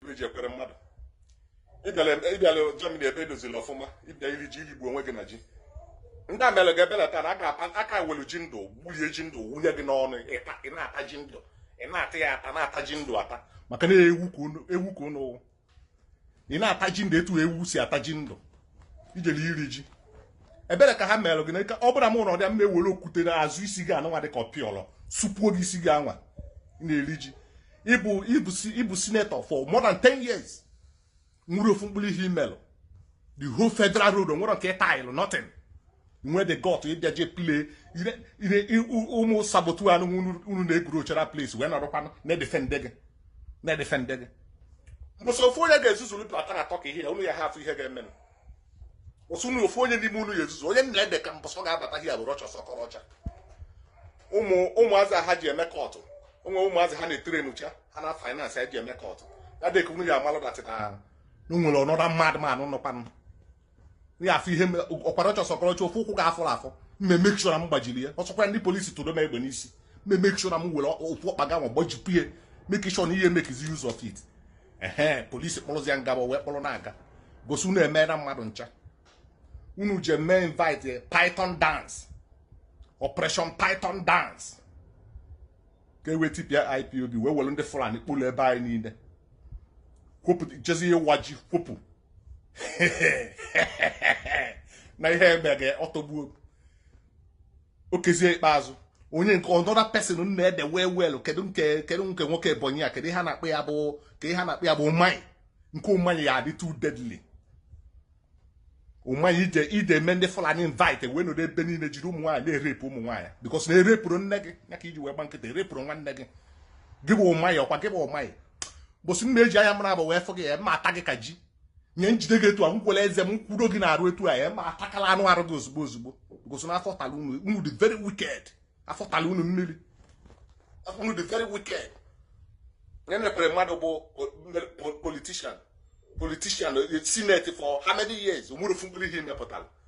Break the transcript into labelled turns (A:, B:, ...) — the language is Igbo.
A: ibe ji Ekweremadu ị bịala Germany ebe e dozili ọfụma ị bịa iri ji irigbu onwe gị na ji ndị a melụ gị ebele taa na a ka welu ji ndụ gbulie ji ndụ wunye gị n'ọnụ ị na-ata ji ndụ ị na-ata ya ata na-ata ji ndụ ata maka na ewu ka unu bụ ị na-ata ji ndụ etu ewu si ata ji ndụ i jelu iri ji ebere ka ha merụ gị na ọ bụlụ mụ nọdụ m ewere okwute n'azụ isi gị anụnwa dị ka ọpịọlọ supuo gị isi gị anwa na-eri ji ị bụ ị bụ senator for more than 10 years o nwerọ ofu mkpụrụ ihe i melụ the whole federal road o nwerọ nke ị talụ nothing nwe the gut ịbịa je play ụmụ saboteur unu na-egwuru ochara place wee nọrọkwanụ na-edefende gị na-edefende gị mbọsị ofu onye ga-ezuzuru pụta na-atọka ihe ya unu ya-afụ ihe ga-emenụ ụsụ unu ofu onye n'ime unu ya ezuzu onye nna ede ka mbọsị ọ ga-abata ihe a bụ Rochas Okorocha ụmụ ụmụazị ha ji eme kọtụ onwe ụmụazị ha na-etere n'ucha ha na finance eji eme kọtụ ya dịka unu ya amalụ that na o nwere ọnọdụ mmadụ ma anụ nọkwanụ ya afọ ihe ọkwa Rochas Okorocha ofu ụkwụ gị a fọrọ afọ m e-make sure na m gbajiri ya ọ sọkwa ndị polisi tụrụ m egbe n'isi m e-make sure na m were ofu ọkpa gị anwa gbajipụ ya make sure na ihe mekizi use of it ehe polisi kpọrọzia m gaba wee kpọrọ na-aga cos unu emeela mmadụ ncha unu je mee invite python dance operation python dance ka e wee tipịa IPOB wee were ndị Fulani kpụlụ ebe anyị niile kwopụta jezi ihe waji kwopụ na ihe eme ga ọtọgbuo Okezie Ikpeazu onye nke another person na-ede wee welu kedu nke kedu nke nwoke Ebonyi a kedu ihe a na-akpọ ya bụ kedu ihe a na-akpọ ya bụ Umahi nke Umahi ya-adị too deadly Umahi i je i je mee ndị Fulani invite wee nọrọ ebe niile jide ụmụ nwaanyị na-erepụ ụmụ nwaanyị because na e repụrọ nne gị ya ka i ji wee gba nkịtị e repụrọ nwanne gị gị bụ Umahi ọkwa gị bụ Umahi mbọsị m ga-eji anya m naabọ wee fụ gị aya m ata gị ka ji m ya-ejide gị etu a m welu eze m kwudo gị n'arụ etu a aya m atakala anụ arụ gị ozugbo ozugbo cos na afọ tala unu dị very wicked afọ tala unu mmiri unu dị very wicked nenee Ekweremadu bụ politician politician eh, senate for how many years o nwerọ ofu mkpụrụ ihe i mepụtara